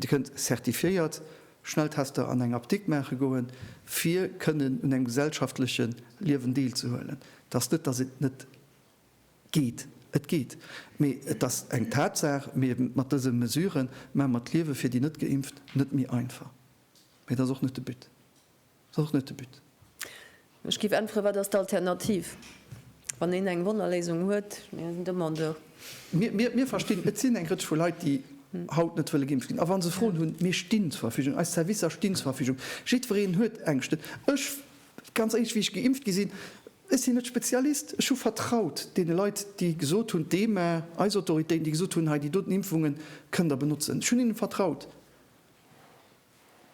Dir kënnt zertifiéiert Schnelltester an eng Apdikt maache goen, fir kënnen un engem gesellschaftleche Liewen deelzehuelen. Et ass net, datt et net geet, et geet, mee et ass eng Tatsaach, mee mat dëse Mesure maache mer d'Liewe fir déi Net-Geimpft net méi einfach, mee dat ass och net de But. Dat ass och net de But. Ech géif äntweren, Wat ass d'Alternativ, wann een eng Wonnerléisung huet? Mir sinn Demandeur. Mir verstinn, et sinn eng Rëtsch vu Leit, déi haut net wëlle geimpft ginn. A wa se Froen hunn, mir stinn zur Verfügung, eis Servicer stinn zur Verfügung. Jiddwereen huet Ängschten. Ech, ganz éierlech, wéi ech geimpft gi sinn, ech sinn net Spezialist. Ech hu vertraut deene Leit, déi gesot hunn, d'EMA, eis Autoritéiten, déi gesot hunn, hei déi doten Impfungen kënnt der benotzen. Ech hunn hinne vertraut.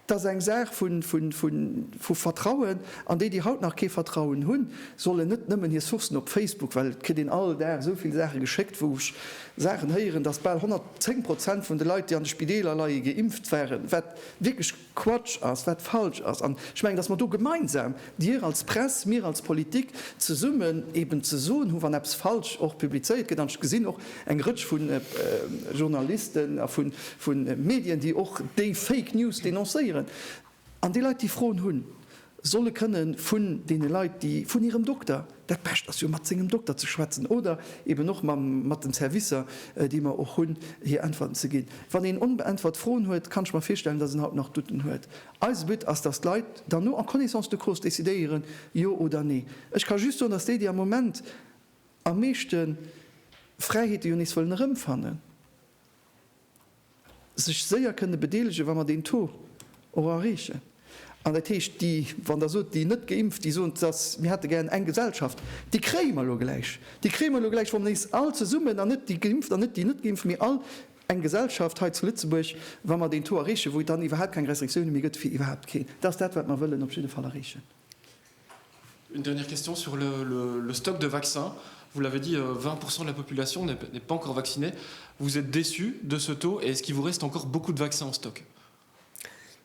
Dat ass eng Saach vu Vertrauen, an déi, déi haut nach kee Vertrauen hunn, sollen net nëmmen hir Sourcen op Facebook, well et kritt een all Dag esou vill Saache geschéckt, wou ech Saachen héieren, datt bal 110 Prozent vun de Leit, déi an de Spideeler leie, geimpft waren, wat wierklech Quatsch ass, wat falsch ass. An ech mengen, datt mer do gemeinsam Dir als Press, mir als Politik zesummen eben ze soen hu wann eppes falsch och publizéiert gëtt. An ech gesinn och eng Rëtsch vu Journalisten a vu Medien, déi och déi Fake News denoncéieren. An déi Leit, déi Froen hunn, solle kënne vun deene Leit, déi vun hirem Dokter, dat Bescht ass jo mat sengem Dokter ze schwätzen oder eben och mat den Servicer, déi mer och hunn, hir Äntwerten ze ginn. Wann een onbeäntwert Froen huet, kann ech mer virstellen, datt en haut nach Douten huet. Eise But ass, dass d'Leit dann no en connaissance de cause decidéieren, jo oder nee. Ech ka just soen, dass déi, déi am Moment am meeschte Fräiheete jo nees wëllen erëmfannen, sech séier kënne bedeelegen, wa mer deen Taux och erreechen. An dat heescht, déi, wann Der sot, déi net Geimpft, déi soen, dass mir hätte gären eng Gesellschaft, déi kréie mer elo gläich. Déi kréie mer elo gläich, wa mer nees all zesummen, an net déi Geimpft an net déi net Geimpft, mee all, Eng Gesellschaft hei zu Lëtzebuerg, wa mer deen Taux erreechen, wou et dann iwwerhaupt keng Restriktioune méi gëtt fir iwwerhaupt keen, dat ass dat, wat mer wëllen op jidde Fall erreechen. Une dernière question sur le stock de vaccins. Vous l'avez dit, 20 pourcent de la population n'est pas encore vaccinée. Vous êtes déçu de ce taux et est-ce qu'il vous reste encore beaucoup de vaccins en stock?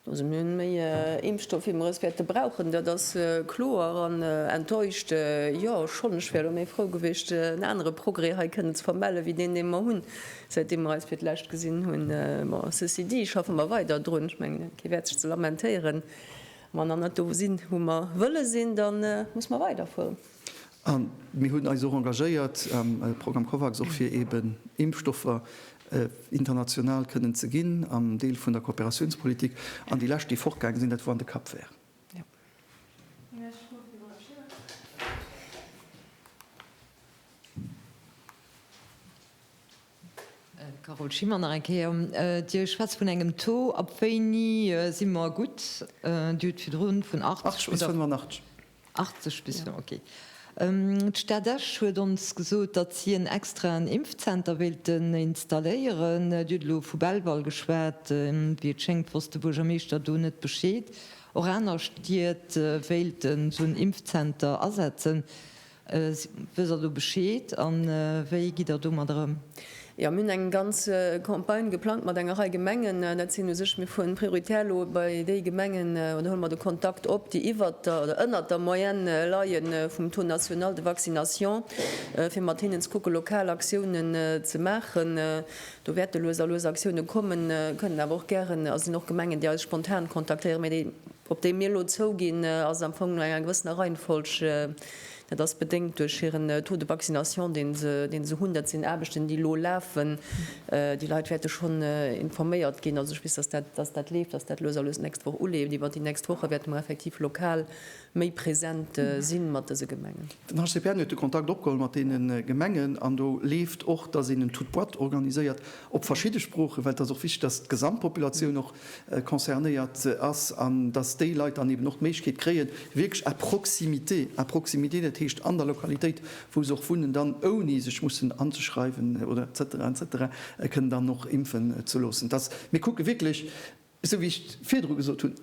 Also mir hunn méi Impfstoff wéi mer es wäerte brauchen, dat ass kloer. An enttäuscht, jo schonn. Ech wär elo méi frou gewiescht en anere Progrès hei kënnen ze vermellen wéi deen dee mer hunn säitdeem mer eis fir d'lescht gesinn hunn. Bon, ceci dit, schaffe mer weider drun. Ech mengen kee wäert sech ze lamentéieren. Wa mer nach net do sinn wou mer wëlle sinn, da musse mer weiderfueren. A mir hunn eis och engagéiert am Programm Covax, och fir eeben Impfstoffer international kënnen ze ginn, am Deel vun der Kooperatiounspolitik. An déi lescht, déi fortgaange sinn, dat wor an de Cap Vert. Carole Schimmer, Nach eng Kéier, Dir schwätzt vun engem Taux, ab wéini si mer gutt? Dir hutt virdrun vun 80 oder. 80 bis 85. 80 bis no, ok. D'Stad Esch huet ons gesot, datt si en extraen Impfzenter wéilten installéieren. Dir hutt elo vu Belval geschwat. Wéi et schéngt, wosst de Buergermeeschter do net Bescheed. Och aner Stied wéilten esou en Impfzenter asetzen. Wësst Der do Bescheed an wéi gitt Der domadder ëm? Jo, mir hunn eng ganz Campagne geplangt mat enger Rei Gemengen. Dat sinn u sech, mir fueren prioritär elo bei déi Gemengen oder huele mer de Kontakt op, déi iwwert der oder ënnert der Moyenne leie vum Taux national de vaccination, fir mat hinnen ze kucke lokal Aktiounen ze maachen. Do wäerte lues a lues Aktiounen kommen, kënnen awer och gären a sinn och Gemengen, déi eis spontan kontaktéieren. Mee déi, op déi mir elo zouginn, ass am Fong no enger gewëssener Reihenfolg. Dat ass bedéngt duerch hiren Taux de vaccination, dee se hunn. Dat sinn Aarbechten, déi elo lafen. Déi Leit wäerte schonn informéiert ginn. Also ech weess, datt dat leeft, datt dat lues a lues d'nächst Woch uleeft. Iwwer déi nächst Woche wäerte mer effektiv lokal méi present si mat dëse Gemengen. Den HCPN huet de Kontakt opgeholl mat deene Gemengen an do leeft och, datt een en Toute boîte organiséiert op verschidde Sproochen, well et ass och wichteg, datt d'Gesamtpopulatioun och concernéiert ass an dass déi Leit dann eben och d'Méiglechkeet kréien, wierklech à proximité, à proximité, dat heescht an der Lokalitéit, wou se och wunnen, dann ouni sech mussen anzeschreiwen oder etc etc kënnen dann och impfen ze loossen. Dass mir kucke wierklech, esou wéi ech virdru gesot hunn,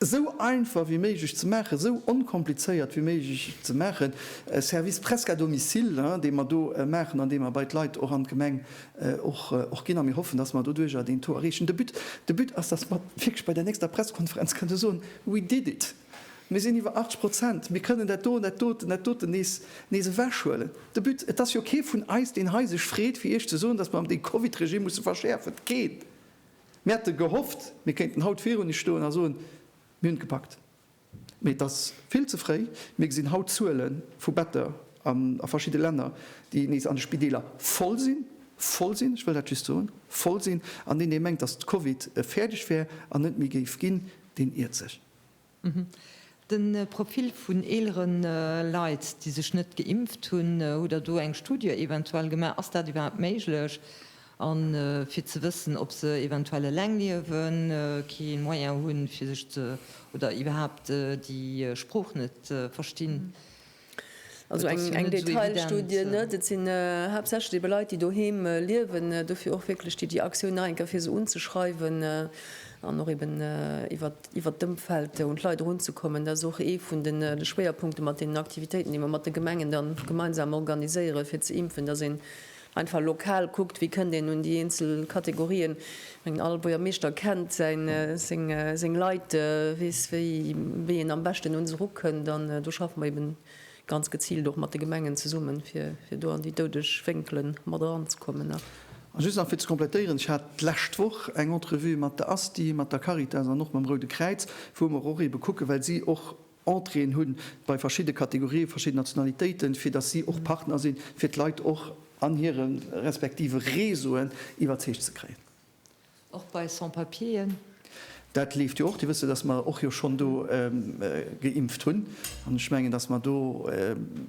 esou einfach wéi méiglech ze maachen, esou onkomplizéiert wéi méiglech ze maachen, e Service presque à domicile, dee mer do maachen an dee mer bei d'Leit och an d'Gemeng och ginn. A mir hoffen, dass mer doduerjer deen Taux erreechen. De But, de But ass, dass mer wierklech bei der nächster Pressekonferenz kënne soen, We did it! Mir sinn iwwer 80 Prozent, mir kënnen dat doten, dat doten, dat doten nees, nees ewechhuelen. De But, et ass jo kee vun eis, deen hei sech freet, fir Iech ze soen, dass mer déi Covid-Regie musse verschäerfen. Keen! Mir hätte gehofft, mir kéinten haut virun Iech stoen a soen, Mir hunn et gepackt. Mee et ass vill ze fréi. Mir gesinn haut Zuele vu Better a verschidde Länner, déi nees an de Spideeler voll sinn, voll sinn, ech wëll dat just soen, voll sinn. An deen, dee mengt, datt d'Covid fäerdeg wär an net méi géif ginn, deen iert sech. De Profil vun eelere Leit, déi sech net geimpft hunn, hutt Der do eng Studie eventuell gemaach? Ass dat iwwerhaapt méiglech? A fir ze wëssen, ob se eventuell eleng liewen, kee Moyen hunn, fir sech ze oder iwwerhaapt déi Sprooch net verstinn, Also eng Detailstudie net, et sinn haaptsächlech ebe Leit, déi doheem liewen. Dofir och wierklech déi déi Aktioun nach eng Kéier, fir se unzeschreiwen an och eben iwwer iwwert d'Ëmfeld un d'Leit erunzekommen. Dat ass och ee vun de Schwéierpunkte mat deenen Aktivitéiten, déi mer mat de Gemengen da gemeinsam organiséieren, fir ze impfen, dass een Einfach lokal kuckt, wéi kënnt een un déi eenzel Kategorien. Ech mengen, all Buergermeeschter kennt seng Leit, weess, wéi een am beschten un se erukënnt. An do schaffe mer eeben ganz geziilt och mat de Gemengen zesummen, fir do an déi doudeg Wénkele mat eranzekommen. A just nach fir ze komplettéieren, Ech hat d'lescht Woch eng Entrevue mat der ASTI, mat der Caritas an och mam Roude Kräiz, wou mer och eebe kucken, well si och Entréeën hunn bei verschidde Kategorië verschidden Nationalitéiten, fir datt si och Partner sinn, fir d'Leit och an hire respektive Réseauen iwwerzeegt ze kréien. Och bei Sans-Papieren? Dat leeft jo och. Dir wësse, datt mer och jo schonn do geimpft hunn. An ech mengen, datt mer do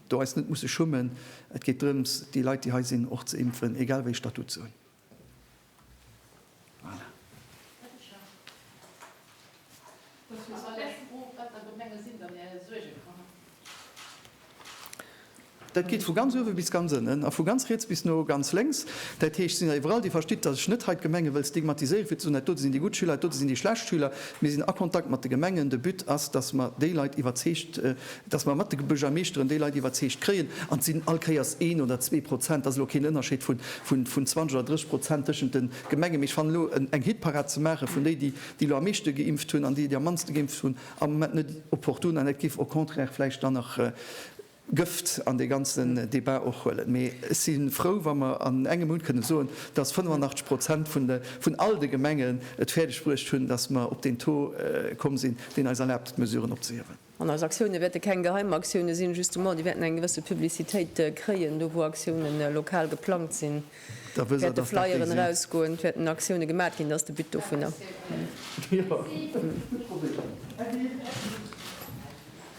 do eis net musse schummen. Et geet drëms, déi Leit, déi hei sinn, och ze impfen, egal wéi ee Statut se hunn. Dat geet vu ganz uewe bis ganz ënnen a vu ganz riets bis no ganz lénks. Dat heescht, et sinn der iwwerall, déi verstitt, datt ech net hei d'Gemenge wëll stigmatiséieren, fir ze soen, dat dote sinn déi gutt Schüler, dat dote sinn déi schlecht Schüler. Mir sinn a Kontakt mat de Gemengen. De But ass, datt mer déi Leit iwwerzeegt, dass mer mat de Buergermeeschteren déi Leit iwwerzeegt kréien, an et sinn allkéiers een oder zwee Prozent, dass elo keen Ënnerscheed vun 20 oder 30 Prozent tëschent de Gemenge, mee ech fannen, elo eng Hitparad ze maache vun déi, déi elo am meeschte geimpft hunn, an déi, déi am mannste geimpft hunn, am Moment net opportun an dat géif au contraire vläicht dann nach Gëft an dee ganzen Débat och huelen. Mee ech si frou, wa mer an engem Mount kënne soen, dass 85 Prozent vun all de Gemengen et fäerdeg bruecht hunn, dass mer op deen Taux komm sinn, deen eis erlaabt, d'Mesuren opzehiewen. An eis Aktiounen wäerte keng geheim Aktiounen sinn, justement, déi wäerten eng gewësse Publicitéit kréien. Do wou Aktiounen lokal geplangt sinn, wäerte Flyeren erausgoen, et wäerten Aktiounen gemat ginn, dat ass de But dovunner.